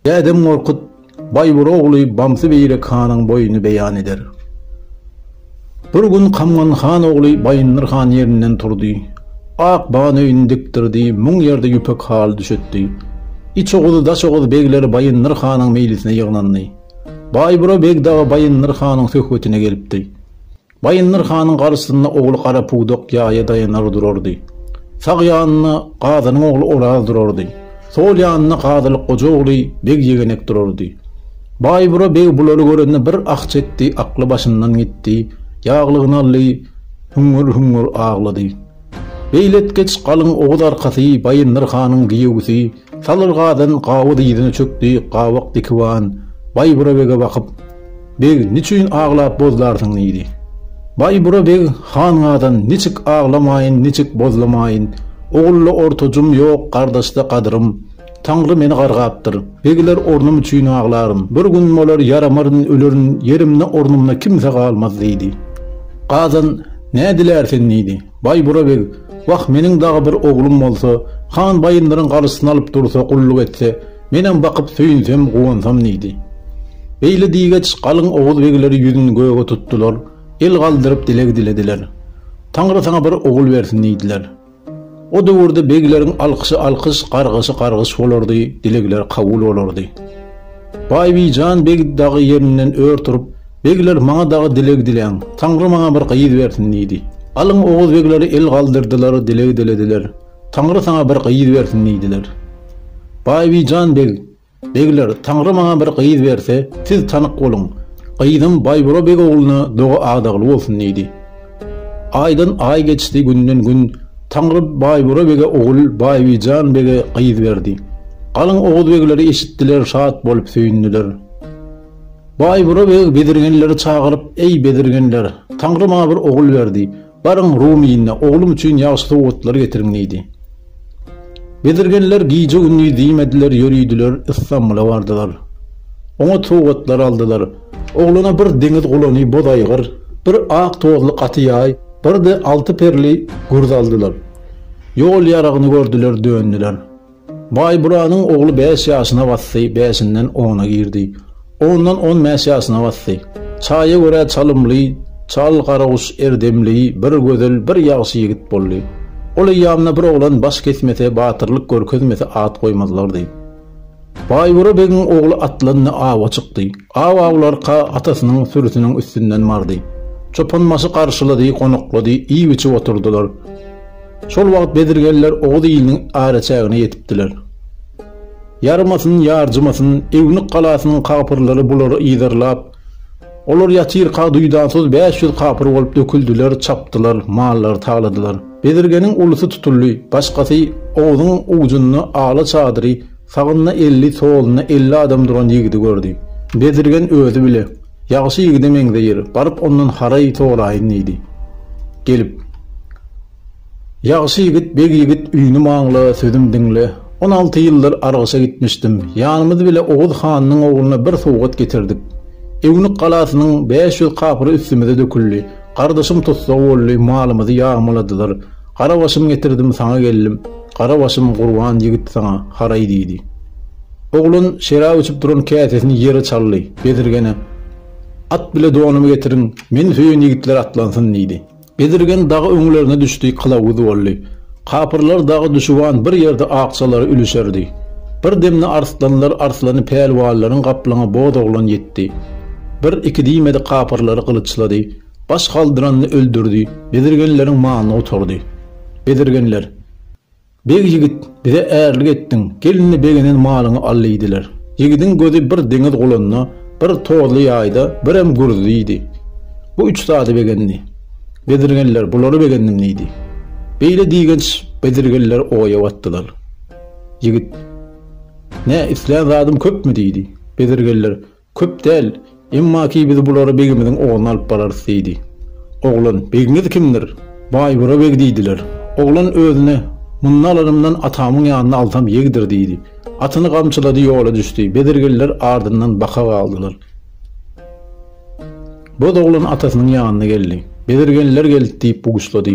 Dädem Gorkut Baýbur ogly Bamsy Beýrek hanyň boýuny beýan eder. Bir gün Kamgan han ogly Baýyndyr han ýerinden turdy. Ak ban öýüni dikdirdi, müň ýerde ýüpek haly düşetdi. Iç Oguz, Daş Oguz begleri Baýyndyr hanyň meýlisine ýygnandy. Baýbura beg dagy Baýyndyr hanyň söhbetine gelipdi. Baýyndyr hanyň garşysynda ogly Garapudak ýaýa daýanar durardy. Sag ýanynda Gazynyň ogly Oraz durardy. Sol ýanynda Gazylyk goja ogly Beg Ýegenek durardy. Baýbura beg bulary görende bir ah çekdi, akly başyndan gitdi, ýaglygyny aldy, hüňňür-hüňňür aglady. Beýletgeç galyň oguz arkasy Baýyndyr hanyň giýewisi Salyrgadan gawy dyzyna çökdi, gabak dikiwan Baýbura bege bakyp, Beg, niçin aglap bozlarsyň? diýdi. Baýbura beg, Hangadan, niçik aglamaýyn, niçik bozlamaýyn? Ogulda ortajym ýok, gardaşda gadyrym. Taňry meni gargapdyr. Begler ornum üçin aglaryn. Bir gün bolar, ýaramaryn, ölerin, ýerimde, ornumda kimse galmaz diýdi. Gadan, Nädilär sen? diýdi. Baýbura beg, Wah, meniň dagy bir oglum bolsa, han Baýyndyryň galyşyny alyp dursa, gulluk etse, menem bakyp söýünsem, guwansam diýdi. Beýle diýgeç, galyň oguz begleri ýüzün göge tutdular, el galdyryp dileg dilediler. Taňry saňa bir ogul bersin diýdiler. O döwürde begleriň alkyşy alkyş, gargyşy gargyş bolardy, dilegler kabul bolardy. Baýbijan beg dagy ýerinden ör turup, Begler maňa dagy dileg diläň. Taňry maňa bir gyz bersin diýdi. Galyň oguz begleri el galdyrdylar, dileg dilediler. Taňry saňa bir gyz bersin diýdiler. Baýbijan beg, Begler, Taňry maňa bir gyz berse, siz tanyk boluň. Gyzym Baýbura beg ogluna doga adagly bolsun diýdi. Aýdan aý geçdi, günden gün. Taňry Baýbura bege ogul, Baýbijan bege gyz berdi. Galyň oguz begleri eşitdiler, şat bolup söýündiler. Baýbura beg bezirgenleri çagyryp, Eý, bezirgenler, Taňry maňa bir ogul berdi. Baryň, Rum iline, oglum üçin ýagşy sowgatlar getiriň diýdi. Bezirgenler gije-gündiz diýmediler, ýörüdiler, Istanbula bardylar. Oňat sowgatlar aldylar. Oglana bir deňiz gulany boz aýgyr, bir ak tozly gaty ýaý, bir-de alty perli gürz aldylar. Ýol ýaragyny gördüler, döndüler. Baýburanyň ogly bäş ýaşyna basdy, bäşinden ona girdi. Ondan on bäş ýaşyna basdy. Çaýa görä çalymly, çal garaguş erdemli, bir gözel, bir ýagşy ýigit boldy. Ol eýýamda bir oglan baş kesmese, batyrlyk görkezmese at goýmazlardy. Baýbura begiň ogly atlandy, awa çykdy. Aw awlarka, atasynyň sürüsiniň üstünden bardy. Çopanbaşy garşylady, gonaklady, iýip-içip oturdylar. Şol wagt bezirgenler oguz iliniň araçägine ýetipdiler. Ýarmasyn, ýarjymasyn, Ewnuk galasynyň kapyrlary bulary yzarlap, olar ýatyrka duýdansyz bäş ýüz kapyr bolup döküldiler, çapdylar, mallary taladylar. Bezirgeniň ulusy tutuldy, başgasy Oguzyň ujunda ala çadyry, sagynda elli, solunda elli adam duran ýigidi gördi. Bezirgen özi bile. Ýagşy ýigide meňzeýär, baryp ondan haraý soraýyn diýdi. Gelip. Ýagşy ýigit, beg ýigit, üýnüm aňla, sözüm diňle. On alty ýyldyr Argyşa gitmişdim. Ýanymyz bile Oguz hanynyň ogluna bir sowgat getirdik. Ewnik galasynyň bäş ýüz kapyry üstümize döküldi. Gardaşym tussag boldy, malymyzy ýagmaladylar. Garabaşym getirdim, saňa geldim. Gara başym gurban ýigit saňa, haraý! diýdi. Oglan şerap içip duran käsesini ýere çaldy, bezirgene, At bile donumy getiriň, meni söýen ýigitler atlansyn! diýdi. Bezirgen dagy öňlerine düşdi, kylawuz boldy. Kapyrlar dagy düşüban bir ýerde akjalary ülüşerdi. Bir demde arslanlar arslany pälwanlaryň gaplaňy Bozoglan ýetdi. Bir-iki diýmedi kapyrlary gylyçlady. Baş galdyranyny öldürdi, bezirgenleriň malyny gutardy. Bezirgenler, Beg ýigit, bize ärlik etdiň, gel-indi begenen malyňy al diýdiler. Ýigidiň gözi bir deňiz gulunda, bir tozly ýaýda, birem gürzüde idi. Bu üç zady begendi. Bezirgenler, Bulary begendim diýdi. Beýle diýgenç bezirgenler oýa batdylar. Ýigit, Nä, islän zadym köpmi diýdi. Bezirgenler, Köp däl, emma ki biz bulara begimiziň ogluna alyp bararys, diýdi. Oglan, Begiňiz kimdir? Baýbura beg diýdiler. Oglan özüne, Mundan alanymdan atamyň ýanyna alsam ýegdir, diýdi. Atyny gamçylady, ýola düşdi. Bezirgenler ardyndan baka galdylar. Boz oglan atasynyň ýanyna geldi. Bezirgenler geldi diýip buşlady.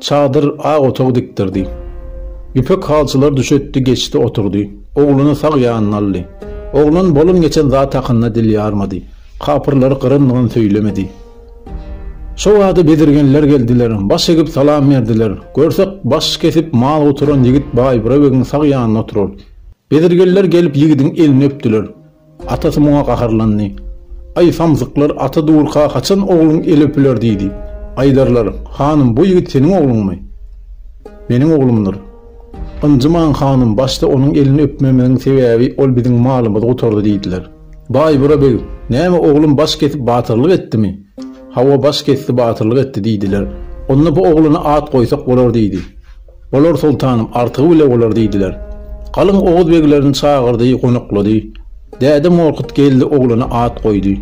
Çadyr, ak otag dikdirdi. Ýüpek halçylar düşetdi, geçdi, oturdy. Ogluny sag ýanyna aldy. Oglan bolan-geçen zat hakynda dil ýarmady. Kapyrlary gyryn-nygyn söýlemedi. Şo bada bezirgenler geldiler. Baş egip salam berdiler. Görsek, baş kesip mal guturan ýigit Baýbura begiň sag ýanynda oturar. Bezirgenler gelip ýigidiň elini öpdüler. Atasy muňa gaharlandy. Aý, samsyklar, ata durka haçan ogluň eli öpüler diýdi. Aýdarlar, Hanym, bu ýigit seniň ogluňmy? Meniň oglumdyr. Ynjymaň, hanym, başda onuň elini öpmegimiziň sebäbi ol biziň malymyzy gutardy diýdiler. Baýbura beg, Näme, oglum baş kesip batyrlyk etdimi? Hawa, baş kesdi, batyrlyk etdi diýdiler. Onda bu ogluna at goýsak bolar diýdi. Olar soltanyň artygy bile bolar diýdiler. Galyň oguz beglerini çagyrdy, gonaklady. Däde Morkut geldi oglana at goýdy.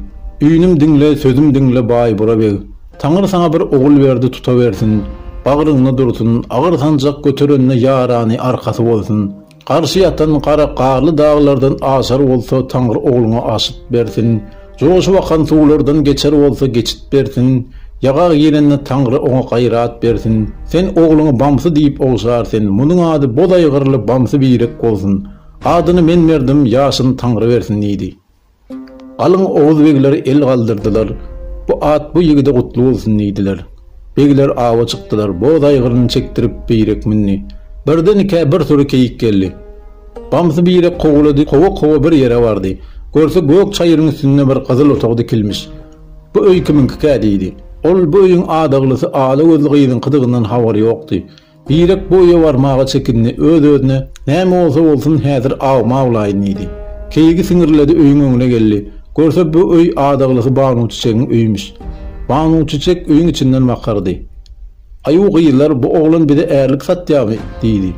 Üýnüm diňle, sözüm diňle, Baýbura beg. Taňry saňa bir ogul berdi tutawersin. Bagryňda dursun, agyr sanjak göterende ýarany arkasy bolsun. Garşy ýatan gara garly daglardan aşar bolsa, Taňry ogluňa aşyt bersin. Joşup akan suwlardan geçer bolsa, geçit bersin. Ýaga girende Taňry oňa gaýrat bersin. Sen ogluňy Bamsy diýip ogşar sen, Munuň ady boz aýgyrly Bamsy birek bolsun. Adyny men berdim, ýaşyny Taňry bersin diýdi. Galyň oguz begler el galdyrdylar, Bu at bu ýigide gutly bolsun diýdiler. Begler awa çykdylar, boz aýgyryny çekdirip Birek mündi. Birdenikä bir sury keýik geldi. Bamsy Birek kowalady, kowa-kowa bir ýere bardy. Görse gök çaýyryň üstünde bir gyzyl otag dikilmiş. Bu öý kimiňkikä diýdi. Ol bu öýüň adaglysy ala gözli gyzyňkydygyndan habary ýokdy. Birek bu öýe barmaga çekindi, öz-özüne, Näme bolsa bolsun, häzir awymy awlaýyn diýdi. Keýigi siňirledi, öýüň öňüne geldi. Görse, bu öý adagylysy Banuçiçegiň öýümiş. Banuçiçek öýüň içinden bakardy. Aýu gyzlar, bu oglan bize ärlik satýarmy? diýdi.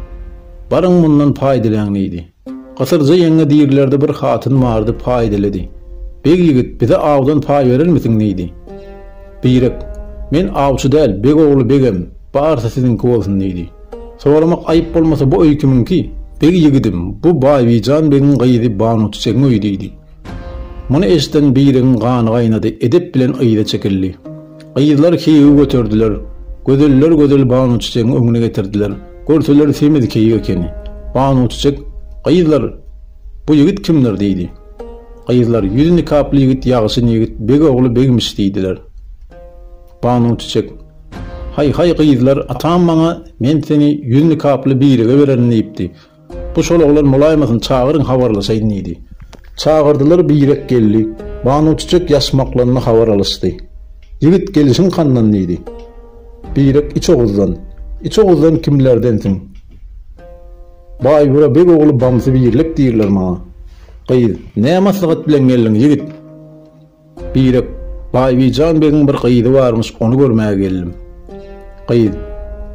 Baryň, mundan paý diläň diýdi. Gysyrja ýeňňe diýilerde bir hatyn bardy, paýdylidi. Beg ýigit, bize awdan paý berermisiň? diýdi. Birek, Men awçy däl, beg ogly begem, barysy siziňki bolsun diýdi. Soramak aýyp bolmasa bu öý kimiňki? Beg ýigidim, bu Baýbijan begiň gyzy Banuçiçegiň öýi diýdi. Muny eşiden Biregiň gany gaýnady, edep bilen yza çekildi. Gyzlar keýigi göterdiler. Gözeller gözel Banuçiçegiň öňüne getirdiler. Görseler semiz keýik ekeni. Banuçiçek, Gyzlar, bu ýigit kimdir? diýdi. Gyzlar, Ýüzi nikaply ýigit, ýagşyn ýigit, beg ogly begmiş diýdiler. Banuçiçek, Haý-haý, gyzlar, atam maňa men seni ýüzi nikaply birege bererin diýipdi. Bu şol oglan bolaýmasyn, çagyryň habarlaşaýyn diýdi. Çagyrdylar birek geldi. Banuçiçek ýaşmaklandy habar alyşdy. Ýigit gelişiň handan diýdi. Birek iç oguzdan. Iç oguzdan kimlerdensiň? Baýbura beg ogly Bamsy birlik diýirler maňa. Gyz, nä maslahat bilen geldiň ýigit? Birek, Baýbijan begiň bir gyzy barmyş, ony görmäge geldim. Gyz,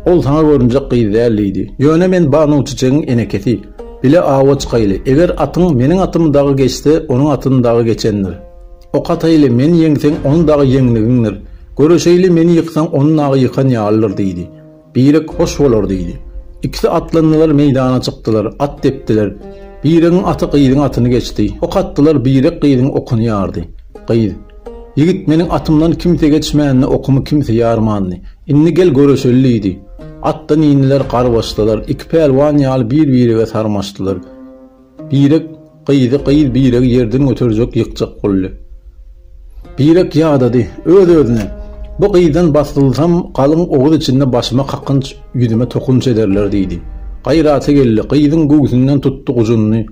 Ol saňa görünjek gyz däl, diýdi. Ýöne men Banuçiçegiň enekesi. Bile awa çykaýly. Eger atyň meniň atym dagy geçse, onuň atyny dagy geçendir. Ok ataýly, meni ýeňseň, ony dagy ýeňnigiňdir. Göreşeýli, meni ýyksaň, ony nagy ýykan ýalydyr, diýdi. Birek hoş bolar diýdi. Ikisi atlandylar meýdana çykdylar, at depdiler. Biregiň aty gyzyň atyny geçdi. Ok atdylar birek gyzyň okuny ýardy. Gyz, Ýigit meniň atymdan kimse geçmänini okumy kimse ýarmandy. Indi gel göreşeli diýdi. Atdan indiler garbaşdylar. Iki pälwan ýaly bir birege sarmaşdylar. Birek gyzy gyz biregi ýerden göterjek ýykjak boldy. Birek ýadady, öz-özüne, Bu gyzdan basdylsam galyň oguz içinde başyma kakynç, ýüzüme tokunç ederler diýdi. Gaýraty geldi, gyzyň göwsünden tutdy gujunyny.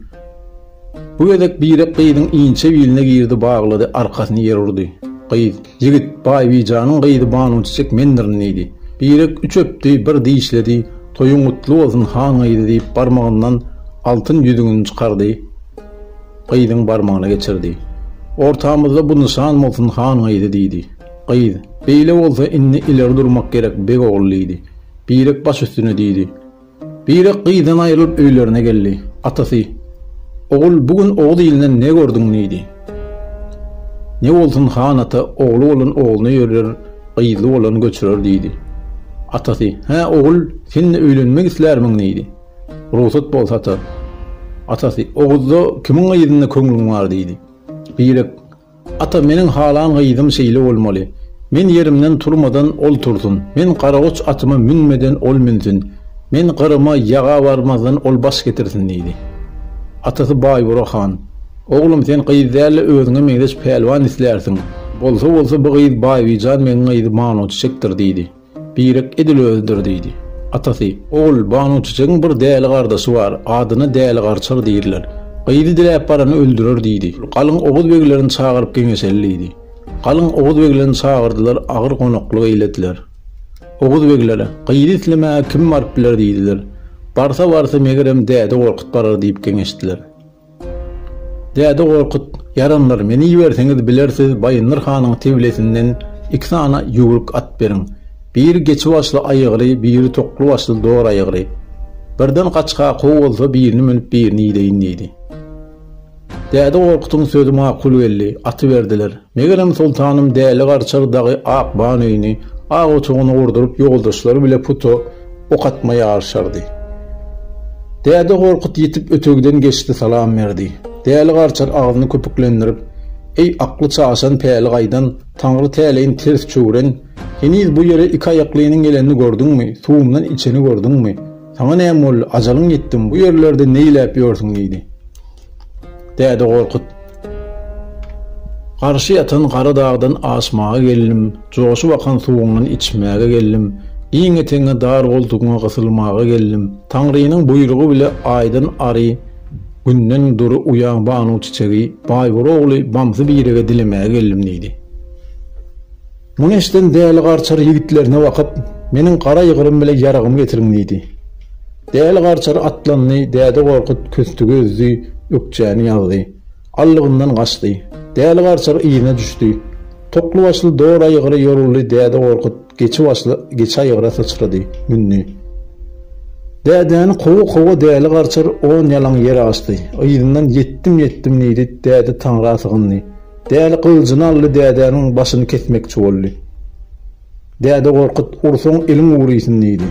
Bu gezek Birek gyzyň inçe biline girdi baglady, arkasyny ýere urdy. Gyz. Ýigit, Baýbijanyň gyzy Banujyjyk mendirin diýdi. Birek üç öpdi, bir dişledi, Toýuň gutly bolsun, han gyzy diýip, barmagyndan altyn ýüzügini çykardy, gyzyň barmagyna geçirdi. Ortamyzda bu nyşan bolsun, han gyzy diýdi. Gyz, Beýle bolsa, indi ileri durmak gerek, beg ogly diýdi. Birek baş üstüne diýdi. Birek gyzdan aýrylyp öýlerine geldi. Atasy, Ogul, bu gün Oguz ilinden ne gördüň? diýdi. Ne bolsun, han ata, ogly bolan ogluna ýörler, gyzly bolan göçürer, diýdi. Atasy, Hä, ogul, sen-de öýlenmek islärmiň? diýdi. Rugsat bolsa, ata. Atasy, Oguzda kimiň gyzynda köňlüň bar? diýdi. Birek, Ata, meniň halan gyzym şeýle bolmaly. Men ýerimden turmadan, ol tursun. Men garagoç atyma münmeden, ol münsün. Men Gyryma ýaga barmazdan, ol baş getirsin, diýdi. Atasy Baýbura han, Oglum, sen gyz däl-de, özüňe meňzeş pälwan islärsiň. Bolsa bolsa, bu gyz Baýbijan begiň gyzy Manuçiçekdir, diýdi. Birek edil özüdir diýdi. Atasy, Ogul, Banuçiçegiň bir däli gardaşy bar, adyna Däli Garçyr diýirler. Gyzy diläp barany öldürer diýdi. Galyň oguz beglerini çagyryp geňeşeli diýdi. Galyň oguz beglerini çagyrdylar, agyr gonaklyk eýlediler. Oguz beglere, Gyzy islemäge kim baryp biler diýdiler. Barsa-barsa, megerem, Däde Gorkut barar diýip geňeşdiler. Däde Gorkut, Ýaranlar, meni iberseňiz bilersiz Baýyndyr hanyň tebilesinden iki sany ýüwrük at beriň. Biri geçi başly aýygry, biri tokly başly dor aýygry. Birden gaçga kow bolsa birini münüp birini ideýin diýdi. Däde Gorkutyň sözi makul geldi. Aty berdiler. Megerem soltanym Däli garçar dagy ak ban öýüni, ak otagyny gurduryp ýoldaşlary bile puto, Ok atma ýaryşardy. Däde Gorkut ýitip ötegiden geçdi salam berdi. Däli garçar agzyny köpüklendirip, Eý, akly çaşan, päli gaýdan, Taňry täleýin ters çöwren, heniz bu ýere iki aýaklynyň gelenini gördüňmi, suwumdan içeni gördüňmi? Saňa näme boldy, ajalyň ýetdimi, bu ýerlerde neýläp ýörsüň? diýdi. Däde Gorkut. Garşy ýatan gara dagdan aşmaga geldim, joşup akan suwuňdan içmäge geldim, giň etegiňe dar goltugyňa gysylmaga geldim. Taňrynyň buýrugy bile aýdan ary Günden dury uýaň banu çiçegi Baýbur ogly Bamsy Birege dilemäge geldim diýdi. Muny eşiden Däli Garçar ýigitlerine bakyp, Meniň gara ýygrym bilen ýaragymy getiriň! diýdi. Däli Garçar atlandy, Däde Gorkut küsdügi üzdi, ökjäni ýazdy. Allygyndan gaçdy. Däli Garçar yzyna düşdi. Tokly başly Dora ýygry ýoruldy, Däde Gorkut geçi başly geçä ýygra syçrady, mündi. Dädäni kowa-kowa Däli Garçar on ýalaň ýere aşdy. Yzyndan Ýetdim, ýetdim diýdi, Däde Taňra sygyndy. Däli gylyjyny aldy dädäniň başyny kesmekçi boldy. Däde gorkut, ursaň eliň ugrysyn diýdi.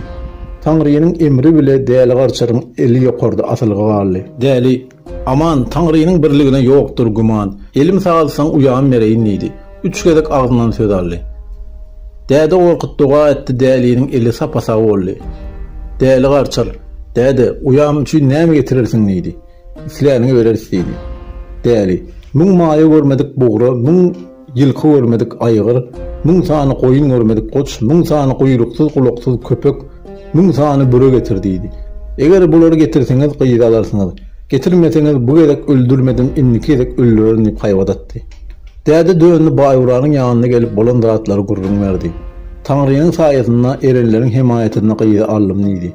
Taňrynyň emri bile Däli garçaryň eli ýokarda asylgy galdy. Däli, Aman, Taňrynyň birligine ýokdur güman, elim sagaltsaň uýam bereýin diýdi. Üç gezek agzyndan söz aldy. Däde gorkut doga etdi däliniň eli sapa-sag boldy. Däli garçar, Däde, uýam üçin näme getirersiň diýdi. Isläniňe bereris diýdi. Däli, Müň maýa görmedik bugra, müň ýylky görmedik aýgyr, müň sany goýun görmedik goç, müň sany guýruksyz-gulaksyz köpek, müň sany büre getir diýdi. Eger bulary getirseňiz, gyzy alarsyňyz. Getirmeseňiz, bu gezek öldürmedim, indiki gezek öldürerin diýip haýbat atdy. Däde döndi, Baýburanyň ýanyna gelip bolan zatlary gürrüň berdi. Taňrynyň saýasynda, erenleriň hemaýatynda gyzy aldym diýdi.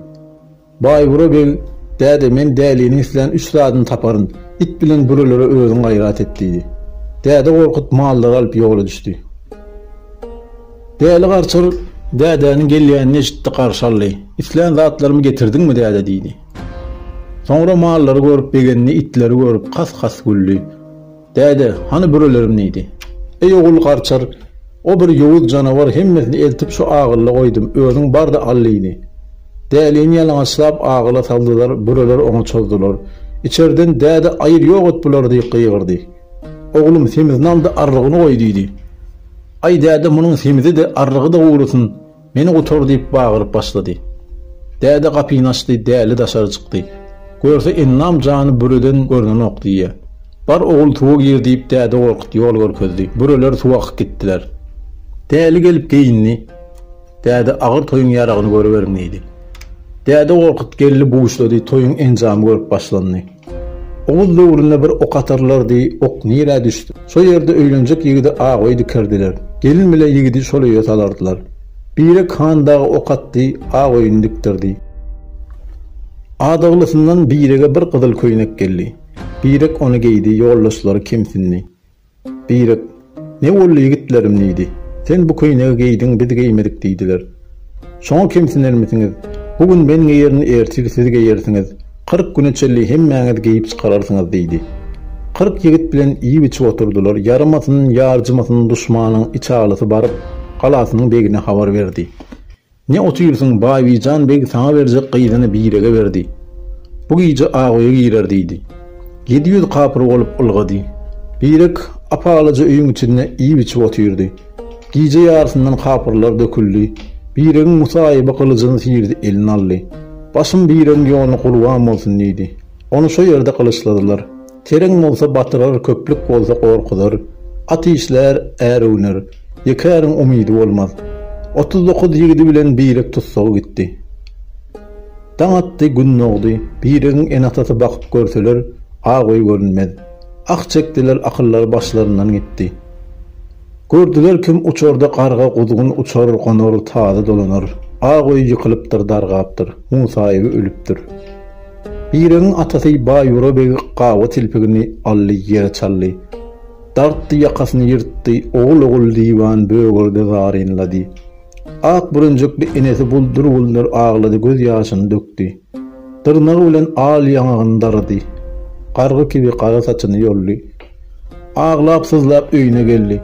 Baýbura beg, Däde, men däliniň islän üç zadyny taparyn. It bilen bürelere özüň gaýrat et, diýdi. Däde gorkup, mallary alyp ýola düşdi. Däli garçyr dädäniň gelýänini eşitdi, garşy aldy. Islän zatlarymy getirdiňmi, däde? diýdi. Soňra mallary görüp begendi, itleri görüp, has-has güldi. Däde, hany bürelerim diýdi. Eý ogul garçar, o bir ýowuz janawar hemmesini eltip şu agylla goýdum, özüň bar-da al diýdi. Dälini ýalaňaçlap agyla saldylar, büreler oňa çozdular. Içerden Däde aýyr ýok et bulary diýip gygyrdy. Oglum, semizini al-da arrygyny goý diýdi. Aý däde munuň semizi-de, arrygy-da guwrusyn, Meni gutar diýip bagyryp başlady. Däde gapyny açdy, Däli daşary çykdy. Görse Ennam jany büreden görnenok diýýä. Bar ogul suwa gir diýip Däde Gorkut ýol görkezdi. Büreler suwa akyp gitdiler. Däli gelip geýindi. Däde agyr toýuň ýaragyny görüberiň diýdi. Däde Gorkut geldi buşlady, toýuň enjamy görüp başlandy. Oguz döwründe bir ok atarlardy, ok nirä düşse, şo ýerde öýlenjek ýigidi agoý dikerdiler. Gelin bile ýigidi şol öýe salardylar. Birek han dagy ok atdy, agoýuny dikdirdi. Adaglysyndan Birege bir gyzyl köýnek geldi. Birek ony geýdi, ýoldaşlary kemsindi. Birek, Ne boldy, ýigitlerim? diýdi. Sen bu köýnegi geýdiň, biz geýmedik diýdiler. Şoňa kemsinermisiňiz? Bu gün men geýerin, ertiri siz geýersiňiz. Kyrk güne çenli hemmäňiz geýip çykararsyňyz diýdi. Kyrk ýigit bilen iýip-içip oturdylar. Ýaramasyn, ýarjymasyn duşmanyň içalysy baryp, galasynyň begine habar berdi. Ne otyrsyň, Baýbijan beg saňa berjek gyzyny birege berdi. Bu gije Agoýa girer diýdi. Ýedi ýüz kapyr bolup ylgady. Birek ap-alaja öýüň içinde iýip-içip otyrdy. Gije ýarysyndan kapyrlar döküldi. Biregiň musaýyby gylyjyny syrdy, eline aldy. Başym biregiň ýoluny gurban bolsun diýdi. Ony şo ýerde gylyçladylar. Tereň bolsa batyrar, köplük bolsa gorkuzar. At işlär, är öwner. Ýeke äriň umydy bolmaz. Otuz dokuz ýigidi bilen birek tussaga gitdi. Daň atdy, gün dogdy. Biregiň ene-atasy bakyp görseler, aw-goý görünmez. Ah çekdiler, akyllary başlaryndan gitdi. Gördüler kim uçarda garga guzgun uçar gonar tazy dolanar Ak öý ýykylypdyr dargapdyr Musaýewi ölüpdir Biregiň atasy Baýura beg gawa tilpigini aldy ýere çaldy Dartdy ýakasyny ýyrtdy ogul ogul diwan bögürdi zarynlady Ak bürünjikli enesi buldur buldur aglady göz ýaşyny dökdi. Dyrnagy bilen al ýaňagyny darady. Gargy kibi gara saçyny ýoldy. Aglap-syzlap öýüne geldi.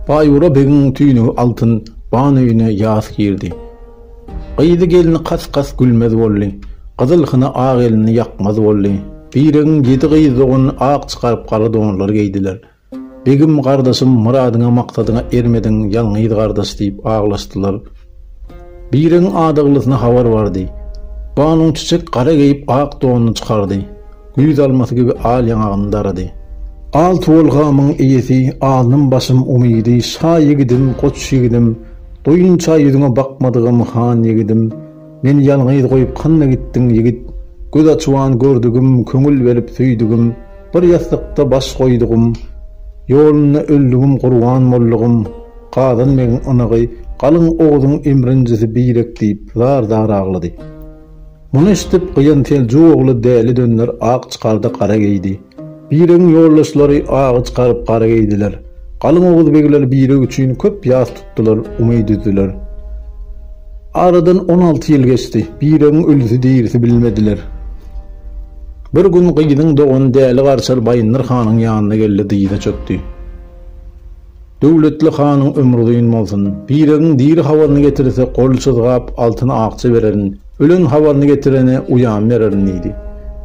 Baýura begiň tüýnügi altyn ban öýüne ýas girdi. Gyzy gelni kas-kas gülmez boldy. Gyzyl hyna ak elini ýakmaz boldy. Biregiň ýedi gyz dogany ak çykaryp gara donlar geýdiler. Begim gardaşym myradyňa maksadyňa ermediň ýalňyz gardaş diýip aglaşdylar. Biregiň adaglysyna habar bardy. Ganun çiçek gara geýip ak donuny çykardy. Güýz almasy gibi al ýaňagyny darady. Al tuwal gamyň eýesi alnym başym umydy şa ýigidim goç ýigidim doýunça ýüzüňe bakmadygym han ýigidim. Meni ýalňyz goýup handa gitdiň ýigit Göz açuan gördügim köňül berip söýdügim Bir ýassykda baş goýdugym Ýolunda öldügim gurban boldugym Gazan begiň ynygy Galyň Oguzyň emrinjisi Birek diýip zar zar aglady Muny eşdip gyýan Seljuk ogly Däli dönder ak çykardy gara geýdi. Biregiň ýoldaşlary agyç garyp gara geýdiler. Galyň oguz begleri Bireg üçin köp ýas tutdular, umyt üzdiler. Aradan on alty ýyl geçdi. Biregiň ölüsi-dirisi bilmediler. Bir gün gyzyň dogany Däli Garçar Baýyndyr hanyň ýanyna geldi, dyza çökdi. Döwletli hanyň ömri uzyn bolsun. Biregiň diri habaryny getirse gol çyzgap altyn akja bererin, ölen habaryny getirene uýam bererin diýdi.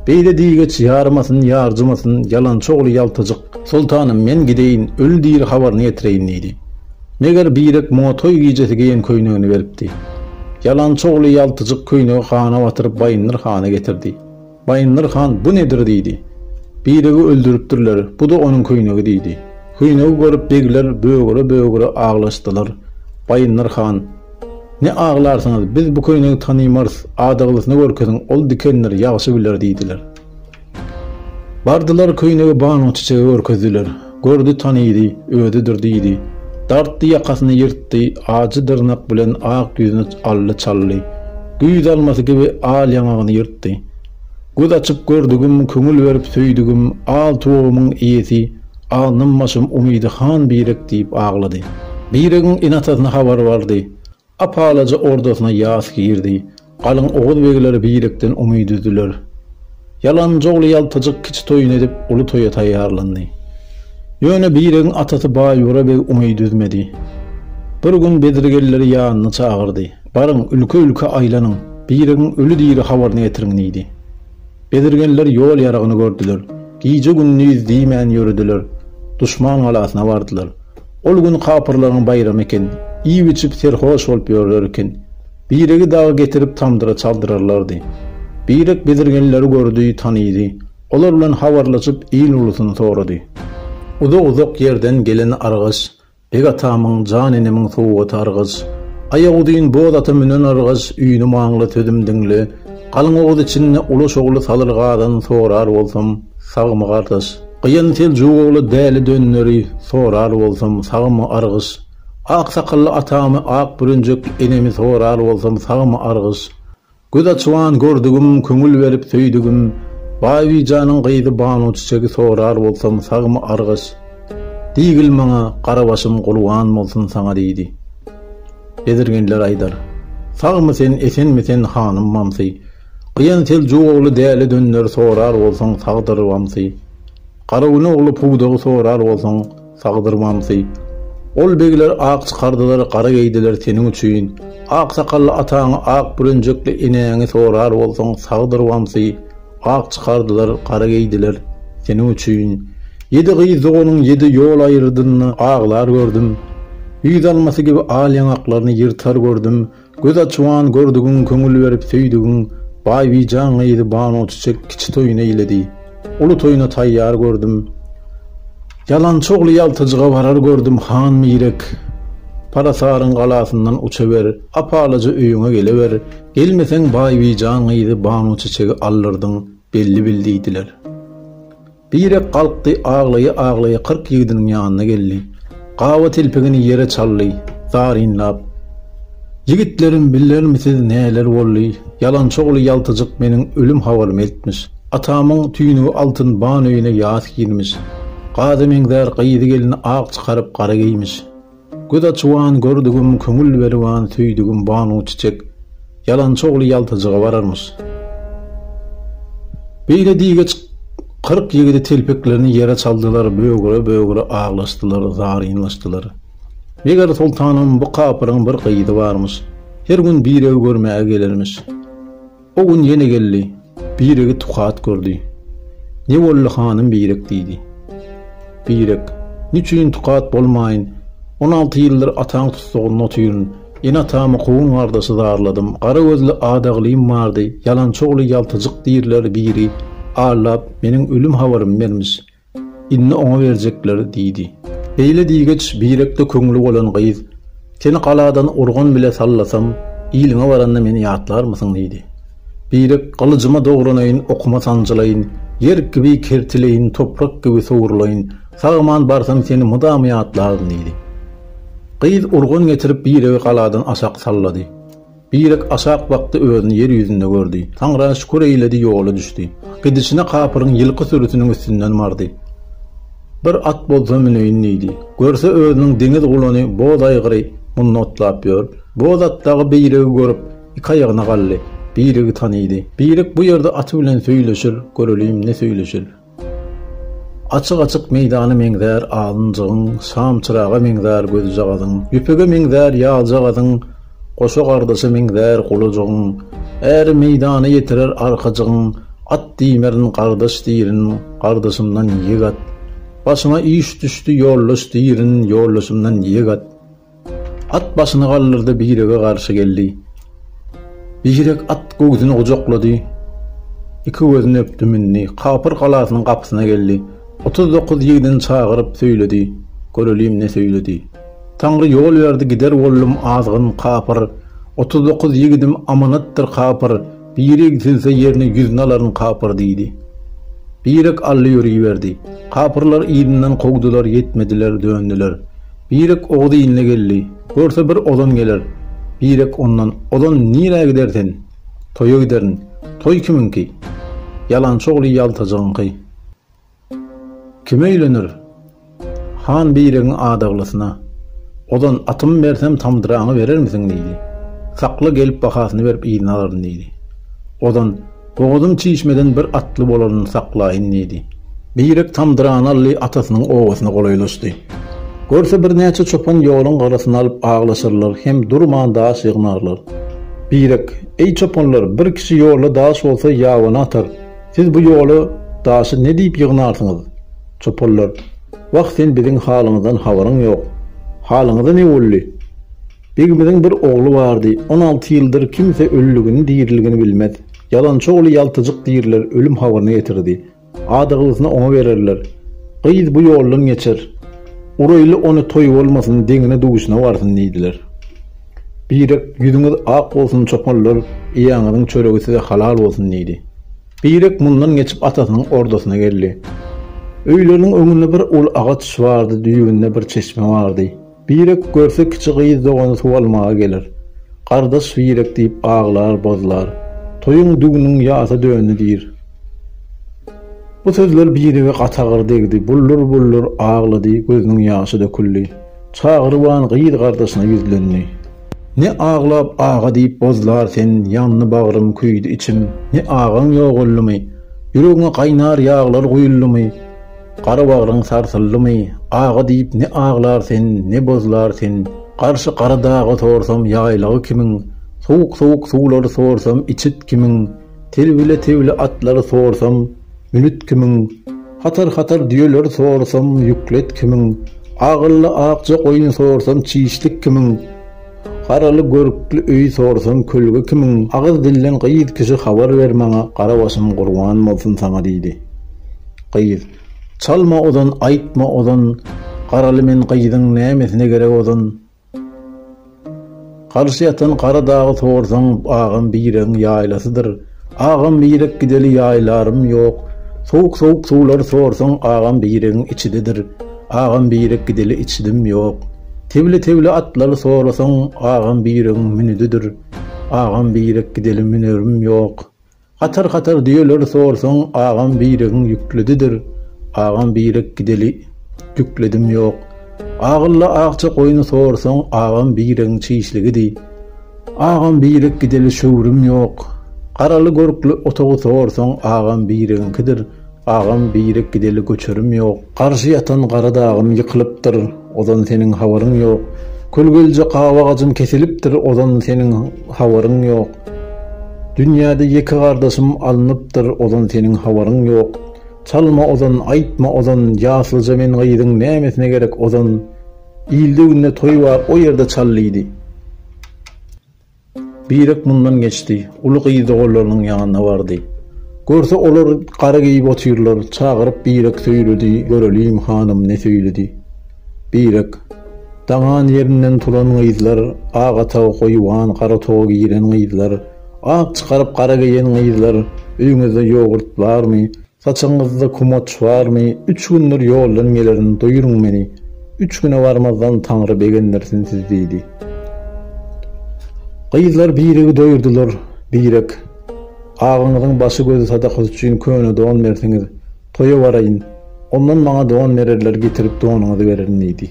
Beýle diýgeç ýarmasyn, ýarjymasyn, ýalançy ogly ýaltajyk, Soltanym, men gideýin, öli-diri habaryny getireýin diýdi. Meger Birek muňa toý gijesi geýen köýnegini beripdi. Ýalançy ogly ýaltyjyk köýnegi gana batyryp Baýyndyr hana getirdi. Baýyndyr han bu nedir diýdi. Biregi öldüripdirler, bu-da onuň köýnegi diýdi. Köýnegi görüp begler bögüre-bögüre aglaşdylar. Baýyndyr han, Ne aglarsyňyz, biz bu köýnegi tanymarys, adaglysyny görkeziň, ol dikendir, ýagşy biler diýdiler. Bardylar köýnegi Banuçiçege görkezdiler. Gördi tanydy, özüdir diýdi. Dartdy ýakasyny ýyrtdy, ajy dyrnak bilen ak ýüzüni aldy çaldy. Güýz almasy kibi al ýaňagyny ýyrtdy. Göz açyp gördügim, köňül berip söýdügim, al tugumyň iýesi, alnymbaşym umydy han birek diýip aglady. Biregiň ene-atasyna habary bardy. Ap-alaja ordasyna ýas girdi. Galyň oguz begleri birlikden umy düzdüler. Ýalanjogly ýaltajyk kiçi toýuny edip, uly toýa taýýarlandy. Ýöne Biregiň atasy Baýbura beg umy düzmedi. Bir gün bedrigelleri ýanyna çagyrdy. Baryň, ülke-ülke aýlanyň, Biregiň öli-diri habaryny getiriň diýdi. Bedrigenler ýol-ýaragyny gördüler. Gije-gündiz diýmän ýörediler. Duşman galasyna bardylar. Ol gün kapyrlaryň baýramy eken. Iýip-içip serhoş bolup ýörler eken. Biregi dagy getirip tamdyra çaldyrarlardy. Birek bezirgenleri gördi, tanydy. Olar bilen habarlaşyp, il-ulusyny sorady. Uzak-uzak ýerden gelen argaç, Beg atamyň, jan enemiň sowgaty argaç. Aýaguzyn boz ata münen argaç, Üýnümaňla, sözüm diňle. Galyň oguz içinde Ulaş ogly Salyrgadan sorar bolsam, sagmy gardaş? Gyýan Seljuk ogly Däli Dönderi sorar bolsam, sagmy argyş? Ak sakally atamy Ak bürenjek enemi sorar bolsam, sagmy argyş? Göz açyban gördügim, köňül berip söýdügim, Baýbijanyň gyzy Banu Çiçegi sorar bolsam, sagmy argyş? Diýgil maňa, Garabaşym gurban bolsun saňa diýdi. Bezirgenler aýdar. Sagmy sen, esenmi sen, hanym mamsy? Gyýan Seljuk ogly dälä dönder, sorar bolsaň, sagdyr wamsy? Garagün ogly pudagy sorar bolsaň, sagdyr wamsy? Ol begler ak çykardylar, gara geýdiler seniň üçin. Ak sakally ataňy, ak bürenjekli enäňi sorar bolsaň, sagdyr wamsy? Ak çykardylar, gara geýdiler seniň üçin. Ýedi gyz doganyň ýedi ýol aýrydynda aglar gördüm. Güýz almasy kibi al ýaňaklaryny ýyrtar gördüm. Göz açuan gördügiň, köňül berip söýdügiň, Baýbijan gyzy Banu Çiçek kiçi toýun eýledi. Uly toýuna taýýar gördüm. Ýalançy ogly ýaltajyga barar gördüm, Han Mirek, Parasaryň galasyndan uçaber, apalaja öýüňe geleber, Gelmeseň Baýbijan gyzy Banu Çiçegi aldyrdyň belli bil diýdiler. Birek galkdy aglaýa-aglaýa kyrk ýigdiniň ýanyna geldi. Gaba telpegini ýere çaldy, zarynlap, Ýigitlerim bilermisiz näler boldy, ýalançy ogly ýaltajyk meniň ölüm habarymy eltmiş. Atamyň tüýnügi altyn Banu öýüne ýas girmiş. Gaza meňzär gyzy gelini ak çykaryp gara geýmiş. Göz açyban gördügim köňül beriban söýdügim banu çiçek ýalançy ogly ýaltajyga bararmyş. Beýle diýgeç kyrk ýigidi telpeklerini ýere çaldylar bögre bögre aglaşdylar zarynlaşdylar. Meger soltanam bu kapyryň bir gyzy barmyş. Her gün birew görmäge gelermiş. O gün ýene geldi. Biregi tukat gördi. Ne boldy hanym Birek diýdi. Birek, Niçin tukat bolmaýyn? On alty ýyldyr ataň tussagynda otyryn. Ene-atamy kowun-gardaşy zarladym. Gara gözli adagylym bardy. Ýalançy ogly ýaltajyk diýirler biri allap, meniň ölüm habarymy bermiş. Indi oňa berjekleri diýdi. Beýle diýgeç birek-de köňli bolan gyz, Seni galadan urgan bile sallasam, iliňe baranda meni ýatlarmysyň? diýdi. Birek, Gylyjyma dogranaýyn, okuma sanjylaýyn, ýer kibi kertileýin, toprak kibi sowrulaýyn, sag-aman barsam seni mydama ýatlaryn diýdi. Gyz urgan getirip biregi galadan aşak sallady. Birek aşak bakdy özüni ýer ýüzünde gördi. Taňra şükür eýledi ýola düşdi. Gidişine kapyryň ýylky sürüsiniň üstünden bardy. Bir at bolsa müneýin diýdi. Görse özüniň deňiz gulany boz aýgyry munda otlap ýör. Boz at dagy biregi görüp iki aýagyna galdy. Biregi tanydy. Birek bu ýerde aty bilen söýleşir göreliň ne söýleşir. Açyk-açyk meýdana meňzär alynjygyň, Şamçyraga meňzär gözjagazyň, Ýüpege meňzär ýaljagazyň, Goşa gardaşa meňzär gulajygyň, Äri meýdana ýetirer arkajygyň, At diýmerin gardaş diýrin, Gardaşymdan ýig at. Başyma iş düşdi ýoldaş diýrin, Ýoldaşymdan ýig at. At başyny galdyrdy, Birege garşy geldi. Birek at göwsüni gujaklady, iki gözüni öpdi, mündi. Kapyr galasynyň gapysyna geldi. Otuz dokuz ýigdini çagyryp, söýledi. Göreliň, ne söýledi. Taňry ýol berdi, gider boldum, azgyn kapyr. Otuz dokuz ýigidim amanatdyr, kapyr. Biri igsilse ýerine ýüzüni alaryn, kapyr, diýdi. Birek aldy ýöriberdi. Kapyrlar yzyndan kowdular, ýetmediler, döndüler. Birek Oguz iline geldi. Görse bir ozan geler. Birek ondan, Ozan, nirä gider sen? Toýa giderin. Toý kimiňki? Ýalançy ogly ýaltajygyňky. Kime öýlenir? Han Biregiň adaglysyna. Ozan, atymy bersem tamdyraňy berermisiň? diýdi. Sakla, gelip bahasyny berip yzyna alaryn, diýdi. Ozan. Bogazym çişmeden bir atly bolaryny saklaýyn diýdi. Beýrek tamdyranaly atasynyň obasyna golaýlaşdy. Görse birnäçe çopan ýoluň garasyny alyp aglaşarlar hem durman daş ýygnarlar. Beýrek, Eý çopanlar, bir kişi ýolda daş bolsa ýabany atar, siz bu ýola daşy ne diýip ýygnarsyňyz? Çopanlar, Wah sen biziň halymyzdan habaryň ýok. Halyňyza ne boldy? Begimiziň bir ogly bardy, on alty ýyldyr kimse ölüligini diriligini bilmez. Ýalançy ogly ýaltyjyk diriler ölüm habaryny getirdi. Adagylysyny oňa bererler. Gyz bu ýoldan geçer. Uraýly ony toý bolmasyn deňine duşuna barsyn diýdiler. Birek ýüzüňiz ak bolsun çopanlar ýaňyzyň çöregi size halal bolsun diýdi. Birek mundan geçip atasynyň ordasyna geldi. Öýleriniň öňünde bir uly agaç bardy düýbünde bir çeşme bardy. Birek görse kiçi gyz dogany suw almaga geler. Gardaş Birek diýip aglar, bozlar. Toýuň düwniň ýasa döndi diýr. Bu sözler Birege gaty agyr degdi. Buldur-buldur aglady, gözüniň ýaşy döküldi. Çagryban gyz gardaşyna ýüzlendi. Ne aglap aga diýip bozlar sen, ýandy bagrym, küýdi içim. Ne agaň ýogaldymy? Ýüregiňe gaýnar ýaglar guýuldymy? Gara bagryň sarsyldymy, aga diýip ne aglar sen, ne bozlar sen, Garşy gara dagy sorsam ýaýlagy kimin, Sowuk-sowuk suwlary sorsam içit kimin, Telbile-telbile atlary sorsam münit kimin, Hatar-hatar düýeleri sorsam ýüklet kimin, Agylla akja goýun sorsam çişlik kimin, Garaly görkli öýi sorsan kölge kimin agyz dilden gyz kişi habar ber maňa gara başym gurban bolsun saňa diýdi. Gyz. Çalma ozan aýtma ozan garaly men gyzyň nämesine gerek ozan. Garşy ýatan gara dagy sorsaň agam biregiň ýaýlasydyr. Agam birek gideli ýaýlarym ýok sowuk sowuk suwlary sorsaň agam biregiň içidedir agam birek gideli içidim ýok tebli tebli atlary sorasaň agam biregiň münüdidir agam birek gideli münerim ýok hatar hatar düýeleri sorsaň agam biregiň ýükledidir agam birek gideli ýükledim ýok agylla akja goýny sorsaň agam biregiň çişligidi. Agam birek gideli şöwrüm ýok. Garaly görkli otagy sorsaň agam biregiňkidir, agam birek gideli göçerim ýok. Garşy ýatan gara dagym ýykylypdyr, ozan seniň habaryň ýok. Kölgelje gawa agajym kesilipdir, ozan seniň habaryň ýok. Dünýäde ýeke gardaşym alnypdyr, ozan seniň habaryň ýok. Çalma ozan, aýtma ozan, ýaslyja men gyzyň nämesine gerek ozan. Ilde-günde toý bar, o ýerde çal diýdi. Birek mundan geçdi. Uly gyz-da olarynyň ýanyna bardy. Görse, olar gara geýip otyrlar. Çagyryp Birek söýledi, Göreliň, hanym, ne söýledi. Birek. Daňan ýerinden turan gyzlar, ak atagy goýuwan, gara toga giren gyzlar, ak çykaryp gara geýen gyzlar, öýüňizde ýogurt barmy? Saçyňyzda kumaç barmy? Üç gündir ýoldan gelerin, doýuryň meni. Üç güne barmazdan Taňry begendirsin sizi diýdi. Gyzlar biregi doýurdylar. Birek, Agyňyzyň başy-gözi sadakasy üçin köne don berseňiz, toýa baraýyn. Ondan maňa don bererler, getirip donuňyzy bererin diýdi.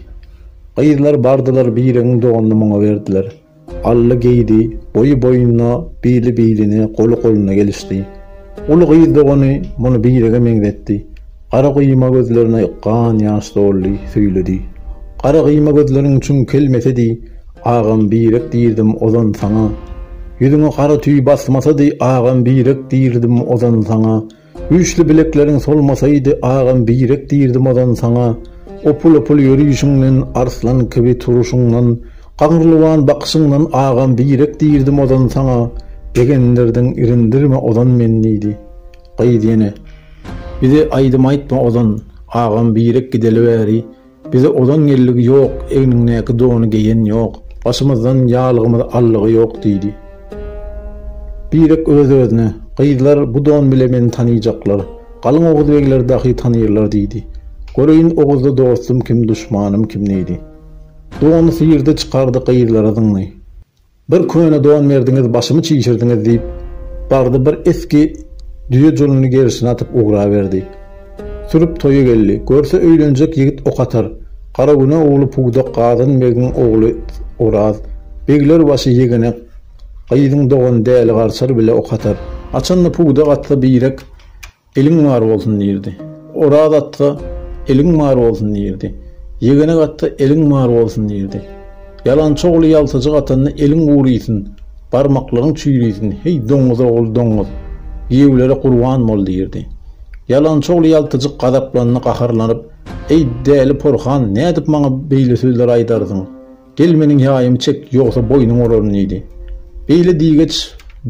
Gyzlar bardylar, biregiň donuny muňa berdiler. Ally geýdi, boýy boýuna, bili biline, goly goluna gelişdi. Uly gyz dogany muny birege meňzetdi. Gara gyýma gözlerine gan ýaş doldy, söýledi. Gara gyýma gözleriň çuň kelmesedi, agam birek diýrdim ozan saňa. Ýüzüňe gara tüý basmasady, agam birek diýrdim ozan saňa. Güýçli bilekleriň solmasaýdy agam birek dirdim ozan saňa Opul-opul ýörüşiňden arslan kibi turuşyňdan Gaňrylywan bakyşyňdan agam birek dirdim ozan saňa Begendirdiň irindirme ozan men diýdi Gyz ýene Bize aýdym aýtma ozan agam birek gideli bäri Bize ozan gelligi ýok, egniňdäki dony geýen ýok, başymyzdan ýalygymyz allygy ýok diýdi. Birek öz-özüne, Gyzlar bu don bile meni tanyjaklar, galyň oguz begleri dahy tanyrlar diýdi. Göreýin oguzda dostum kim, duşmanym kim diýdi. Dony syrdy çykardy gyzlara zyňdy. Bir köne don berdiňiz, başymy çişirdiňiz, diýip, Bardy bir esgi düýe juluny gerşine atyp ugraberdi. Sürüp toýa geldi. Görse, öýlenjek ýigit ok atar. Garagüne ogly pudak Gazan begiň ogly Oraz. Begler başy ýegene gyzyň dogany Däli Garçar bile ok atar. Haçanda pudak atsa birek Eliň bar bolsun diýirdi. Oraz atga Eliň bar bolsun diýirdi. Ýegenek atga Eliň bar bolsun diýirdi. Ýalançy ogly ýaltajyk atanda eliň guryýsin, barmaklaryň çüýrüýsin, heý, doňňuz ogul, doňňuz! Giýewlere gurban bol! diýirdi. Ýalançy ogly ýaltajyk gazaplandy, gaharlanyp, Eý, däli porhan, nädip maňa beýle sözler aýdarsyň? Gel meniň ýaýymy çek, ýogsa boýnuň olaryn diýdi. Beýle diýgeç,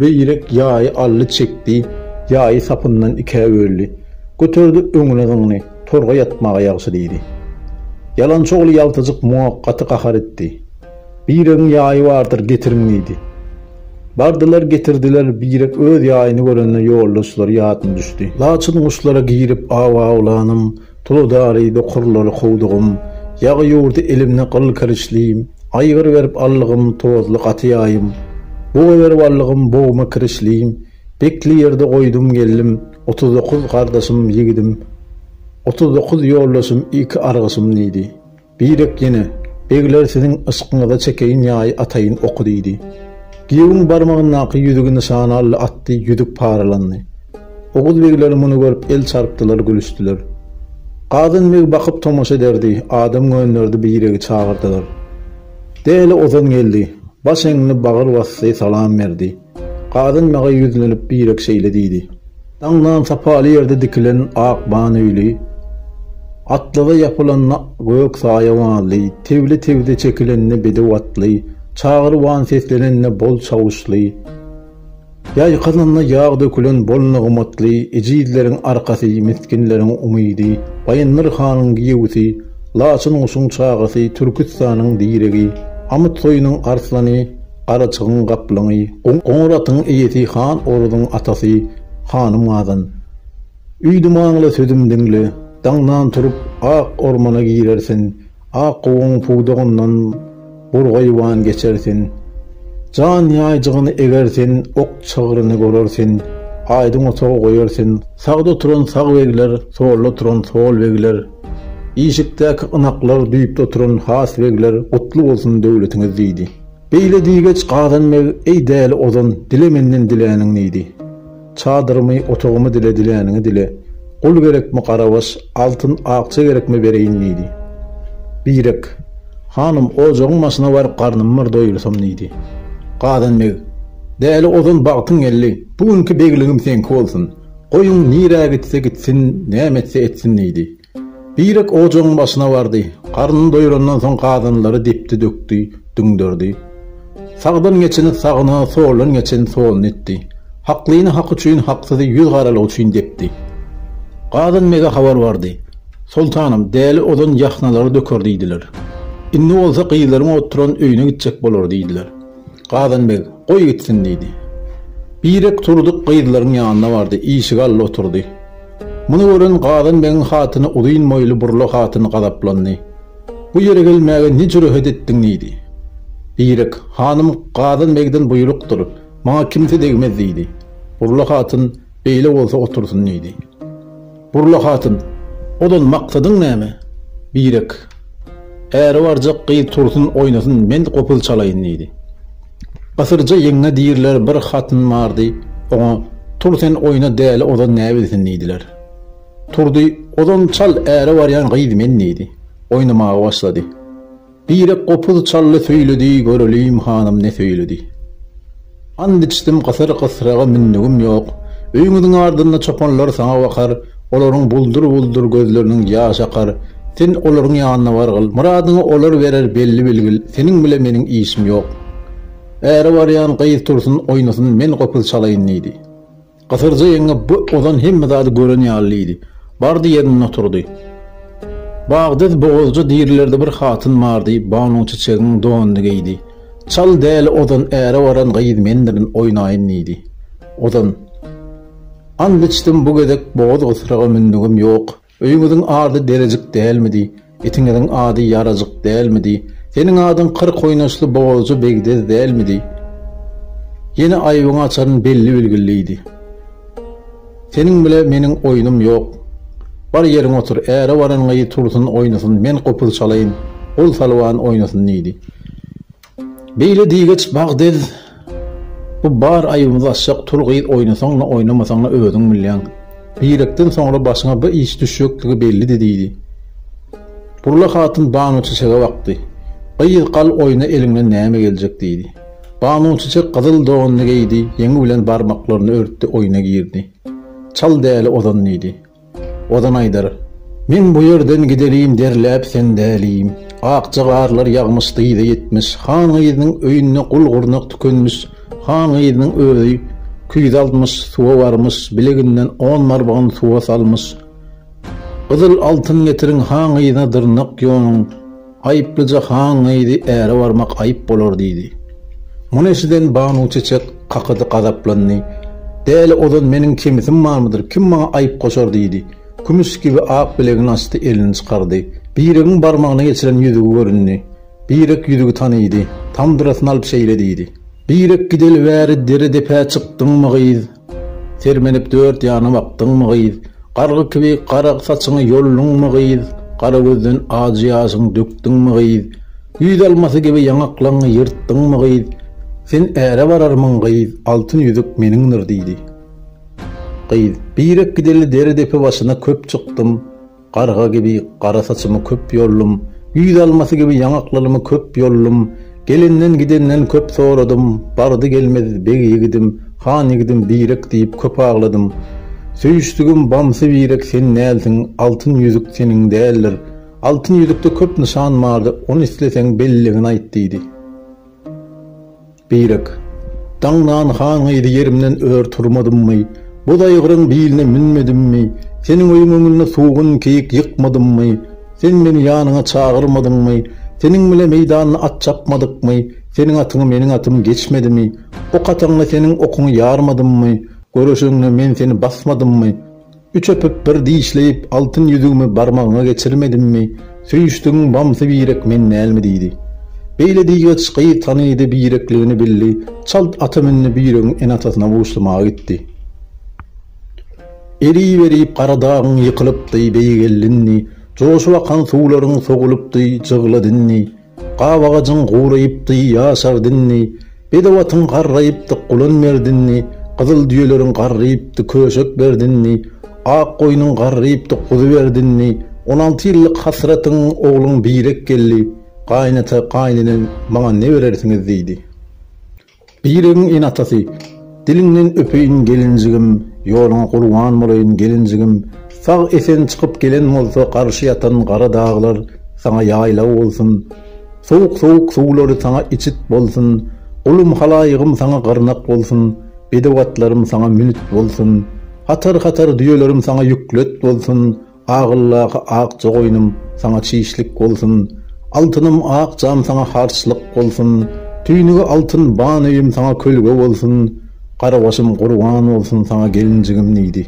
Beýrek ýaýy aldy çekdi, ýaýy sapyndan ikä böldi. Göterdi öňüne zyňdy, Torga ýatmaga ýagşy diýdi. Ýalançy ogly ýaltajyk muňa gaty gahar etdi. Beýregiň ýaýy bardyr, getiriň diýdi. Bardylar getirdiler, Beýrek öz ýaýyny görende ýoldaşlary ýadyna düşdi. Laçyn guşlara girip aw awlanym, Tuly dary dokurlar howdugym, Ýag ýurdy elimde gyl kiriçli, Aýgyr berip allygym, Tozly gaty ýaýym, Buga berip allygym, Bogma kiriçli. Bekli ýerde goýdum geldim, Otuz dokuz gardaşym, ýigidim, Otuz dokuz ýoldaşym, Iki argyşym diýdi. Birek ýene, Begler siziň yşkyňyza çekeýin ýaýy ataýyn oky diýdi. Giýewiň barmagyndaky ýüzügi nyşana aldy atdy, ýüzük paralandy. Oguz begler muny görüp el çarpdylar gülüşdiler. Gazan beg bakyp tomaşa ederdi, adam gönderdi Biregi çagyrdylar. Däli Ozan geldi. Baş eňdi, bagyr basdy, salam berdi. Kadyn maga ýüzlenip birek şeýle diýdi. Daňdan sapaly ýerde dikilen ak ban öýli, atlaza ýapylan gök saýawanly, tewli tewze çekilende bedew atly, çagyr wan seslenende bol çawuşly, ýaý kazanda ýag dökülen bol nygmatly, ejizleriň arkasy, misginleriň umydy, Baýyndyr hanyň giýewisi, laçyn guşuň çagasy, Türküstanyň diregi, Amyt soýunyň arslany, Garaçygyň gaplaňy, goňur atyň eýesi Han Orazyň atasy Hanym Gazan. Üýdüm aňla, sözüm diňle. Daňdan turup, ak ormana girersiň. Ak gowuň pudagyndan burgaýwan geçersiň. Jan ýaýjygyny egersiň, ok çygryny görersiň. Aýdyň otagy goýarsyň. Sagda oturan sag begler, solda oturan sol begler. Işikdäki ynaklar, düýpde oturan has begler, Gutly bolsun döwletiňiz! diýdi. Beýle diýgeç gazan meg, Eý däli ozan, dile menden diläniň nidi? Çadyrymy, otagymy dile, diläniňi dile. Gul gerekmi, garabaş, altyn, akja gerekmi bereýin nidi? Birek, Hanym, ojagyň başyna baryp garnym bir doýursam nidi? Gazan meg, Däli ozan bagtyň geldi, bu günki begligim seňki bolsun. Goýuň nirä gitse gitsin, näme etse etsin nidi? Birek ojagyň başyna bardy. Garnyny doýrandan soň gazanlary depdi, dökdi, düňderdi. Sagdan geçeni sagyna, soldan geçeni soluna etdi. Haklyny haky üçin, haksyzy ýüz garalygy üçin depdi. Gazan bege habar bardy. Soltanym, däli ozan ýahnalary döker diýdiler. Indi bolsa gyzlaryň oturan öýüne gitjek bolar diýdiler. Gazan beg, Goý gitsin diýdi. Birek Turdy gyzlaryň ýanyna bardy, işigi aldy oturdy. Muny gören Gazan begiň hatyny uzyn boýly burla hatyn gazaplandy. Bu ýere gelmäge ne jürehet etdiň diýdi. Birek, Hanym Gazan begden buýrukdyr, maňa kimse degmez diýdi. Burla hatyn, Beýle bolsa otursyn diýdi. Burla hatyn, ozal maksadyň näme? Birek, Äri barjak gyz tursun oýnasyn, men gopuz çalaýyn, diýdi. Gysyrja ýeňňe diýirler bir hatyn bardy, oňa, Tur sen oýna däli ozan näbilsin diýdiler. Turdy, Ozan çal äri barýan gyz men diýdi. Oýnamaga başlady. Birek gopuz çaldy söýledi, Görelim hanym ne söýledi. And içdim gysyr gysraga mündügim ýok, Öýüňiziň ardynda çopanlar saňa bakar, Olaryň buldur-buldur gözleriniň ýaş akar, Sen olaryň ýanyna bargyl, myradyňy olar berer Belli bilgil, seniň bile meniň işim ýok. Äre barýan gyz tursun oýnasyn men gopuz çalaýyn diýdi. Gysyrja ýeňňe bu ozan hemme zady gören ýaly diýdi. Bardy ýerinde oturdy. Bagdyz bogazja dirilerde bir hatyn bardy, Banuň Çiçegiň donuny geýdi. Çal däli ozan äre baran gyz mendirin, oýnaýyn diýdi. Ozan. Ant içdim bu gezek bogaz gysraga mündügim ýok. Öýüňiziň ady Derejik dälmidi? Itiňiziň ady Ýarajyk dälmidi? Seniň adyň kyrk oýnaşly bogazja Begdez dälmidi? Ýene aýbyňy açaryn belli-bilgilliidi. Seniň bile meniň oýnum ýok. Bar ýeriňe otur, äre baran gyz tursun oýnasyn, men gopuz çalaýyn, gul salwan oýnasyn diýdi. Beýle diýgeç Bagdez, Bu bar aýybymyzy açjak tul gyz oýnasaň-da, oýnamasaň-da özüň bilýäň. Birekden soňra başyňa bir iş düşjekdigi bellidi diýdi. Burla hatyn Banuçiçege bakdy. Gyz gal oýna eliňden näme geljek diýdi. Banuçiçek gyzyl donuny geýdi, ýeňi bilen barmaklaryny örtdi oýna girdi. Çal däli ozan diýdi. Ozan aýdar, Men bu ýerden gidelin derläp sen dälim. Akja garlar ýagmyş dyza ýetmiş. Han gyzynyň öýünde gul-gurnak tükenmiş. Han gyzynyň özi küýze almyş, suwa barmyş, bileginden on barbagyn suwa salmyş. Gyzyl altyn getiriň han gyzyna dyrnak ýonuň. Aýyplyja han gyzy äre barmak aýyp bolar diýdi. Muny eşiden Banuçeçek kakady, gazaplandy. Däli ozan meniň kemisim barmydyr, kim maňa aýyp goşar diýdi. Kümüş kibi ak bilegini açdy, elini çykardy. Biregiň barmagyna geçiren ýüzügi göründi. Birek ýüzügi tanydy. Tamdyrasyny alyp şeýle diýdi. Birek gideli bäri dere-depä çykdyňmy gyz? Sermenip dört ýana bakdyňmy, gyz? Gargy kibi gara saçyňy ýolduňmy, gyz? Gara gözden ajy ýaşyňy dökdüňmi, gyz? Güýz almasy kibi ýaňaklaňňy ýyrtdyňmy, gyz? Sen äre bararmyň, gyz? Altyn ýüzük meniňdir, diýdi. Gyz, Birek gideli dere-depe başyna köp çykdym. Garga gibi gara saçymy köp yoldum, Güýz almasy gibi ýaňaklylymy köp yoldum, Gelenden gidenden köp soradym, Bardy gelmez beg ýigidim, han ýigidim birek diýip köp agladym. Söýüşdigim bamsy birek sen dälsiň, Altyn ýüzük seniň däldir. Altyn ýüzükde köp nyşan bardy, Ony isleseň belligini aýt diýdi. Birek. Daňdan han gyzy ýerimden ör turmadymmy, boz aýgyryň biline münmedimmi, seniň öýüň öňünde sugun, keýik ýykmadymmy, sen meni ýanyňa çagyrmadyňmy, seniň bile meýdanda at çapmadykmy, seniň atyňy meniň atym geçmedimi, ok ataňda seniň okuňy ýarmadymmy, göreşeňde men seni basmadymmy, Üç öpüp bir dişleýip, altyn ýüzügimi barmagyňa geçirmedimmi, söýüşdigiň bamsy birek men dälmi diýdi. Beýle diýgeç gyz tanydy, birekligini bildi, çalt ata mündi biregiň ene-atasyna buşlamaga gitdi. Eriberip Garadagyň ýykylypdy, beýgeldindi, joşup akan suwlaryň sogulypdy, jygladyndy. Gap agajyň guraýypdy ýaşar dinni, Bedew atyň garraýypdy gulan merdinni, Gyzyl düýeleriň garraýypdy köşek berdinni, Ak goýnuň garraýypdy guzy berdinni, On alty ýyllyk hasratyň ogluň birek geldi, Gaýynata, gaýynene, maňa ne berersiňiz? diýdi. Biregiň ene-atasy, Diliňden öpeýin gelinjigim, Ýoluňa gurban bolaýyn gelinjigim, Sag-esen çykyp gelen bolsa Garşy ýatan gara daglar Saňa ýaýlaw bolsun. Sowuk-sowuk suwlary Saňa içit bolsun. Gulum halaýygym Saňa gyrnak bolsun, Bedew atlarym Saňa münit bolsun. Hatar-hatar düýelerim Saňa ýüklet bolsun. Agyldaky akja goýnum saňa çişlik bolsun, Altynym akjam saňa harçlyk bolsun, Tüýnügi altyn ban öýüm saňa kölge bolsun, Garabaşym gurban bolsun saňa gelinjigim diýdi.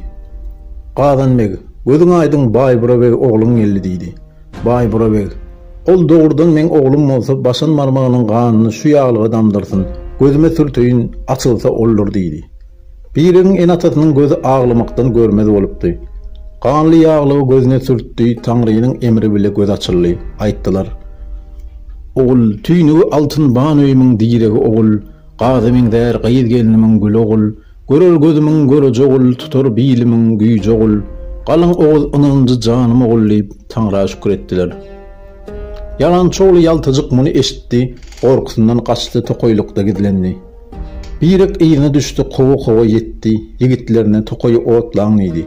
Gazan beg, Gözüň aýdyň Baýbura beg ogluň geldi diýdi. Baýbura beg, Ol dogrudan meň oglum bolsa başan barmagynyň ganyny şu ýaglyga damdyrsyn, gözüme sürteýin, açylsa oldur diýdi. Birigiň ene-atasynyň gözi aglamakdan görmez bolupdy. Ganly ýaglygy gözüne sürtdi, Taňrynyň emri bile göz açyldy. Aýtdylar. Ogul, tüýnügi altyn ban öýümiň diregi ogul, Gaza meňzär gyz gelnimiň güli ogul, Görer gözümiň göreji ogul, tutar bilimiň güýji ogul, Galyň oguz ynanjy janym ogul diýip, Taňra şükür etdiler. Ýalançy ogly ýaltajyk muny eşitdi, gorkusyndan gaçdy, tokaýlykda gizlendi. Birek yzyna düşdi, kowa-kowa ýetdi, ýigitlerine tokaýy otlaň diýdi.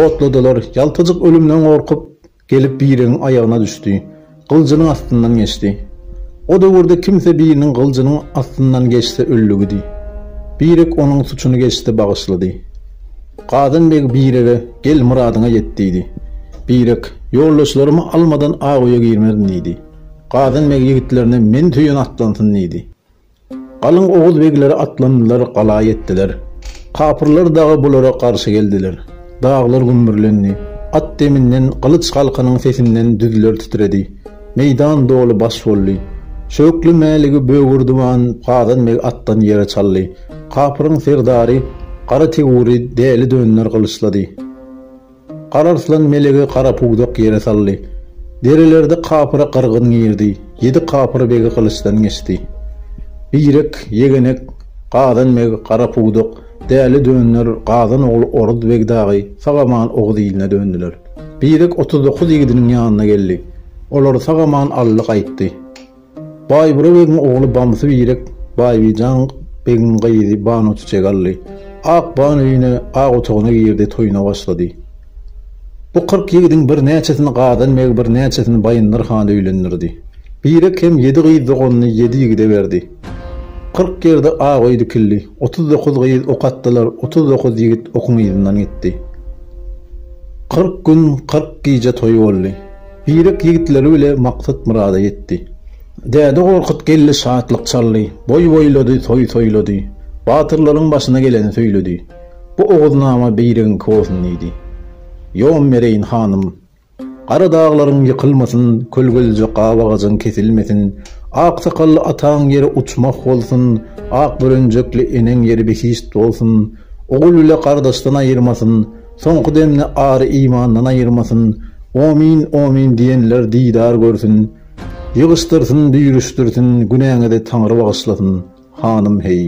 Otladylar. Ýaltajyk ölümden gorkup, gelip Biregiň aýagyna düşdi. Gyljynyň astyndan geçdi. O döwürde kimse biriniň gyljynyň astyndan geçse öllügidi. Birek onuň suçuny geçdi, bagyşlady. Gazan beg Birege, Gel, myradyňa ýet diýdi. Birek, Ýoldaşlarymy almadan Aguýa girmerin diýdi. Gazan beg ýigitlerine meni söýen atlansyn diýdi. Galyň oguz begleri atlandylar, gala ýetdiler. Kapyrlar dagy bulara garşy geldiler. Daglar gümmürlendi. At deminden, gylyç galkanyň sesinden düzler titredi. Meýdan doly baş boldy. Şöwkli Mäligi bögürdiban Gazan beg atdan ýere çaldy. Kapyryň serdary Gara Tegury däli dönler gylyçlady. Gararslan melegi gara pudak ýere saldy. Derelerde kapyra gyrgyn girdi. Ýedi kapyr begi gylyçdan geçdi. Birek, Ýegenek, Gazan beg, Gara pudak, Däli dönder, Gazan ogly Oruz beg dagy sag-aman oguz iline döndüler. Birek otuz dokuz ýigidiniň ýanyna geldi. Olary sag-aman aldy gaýtdy. Baýbura begiň ogly Bamsy Birek Baýbijan begiň gyzy Banuçiçegi aldy. Ak ban öýüne, ak otagyna girdi, toýuna başlady. Bu kyrk ýigidiň birnäçesini Gazan beg, birnäçesini Baýyndyr han öýlendirdi. Birek hem ýedi gyz doganyny ýedi ýigide berdi. Kyrk ýerde ak öý dikildi. Otuz dokuz gyz ok atdylar, otuz dokuz ýigit okuň yzyndan gitdi. Kyrk gün, kyrk gije toý boldy. Zirek ýigitleri bile maksat-myrada ýetdi. Däde Gorkut geldi şatlyk çaldy, boý boýlady, toý toýlady. Batyrlaryň başyna geleni söýledi. Bu Oguznama beýregiňki bolsun diýdi. Ýon bereýin, hanym. Gara daglaryň ýykylmasyn, kölgelije gap agajyň kesilmesin, aksakally ataň ýeri uçmah bolsun, ak bürenjekli eneň ýeri behişt bolsun, ogul bile gardaşdan aýyrmasyn, Soňky demni ary imandan aýyrmasyn, Omyn, omyn diýenler didar görsün, Ýygyşdyrsyn, düýrüşdirsin, günäňizi Taňry bagyşlasyn, hanym heý.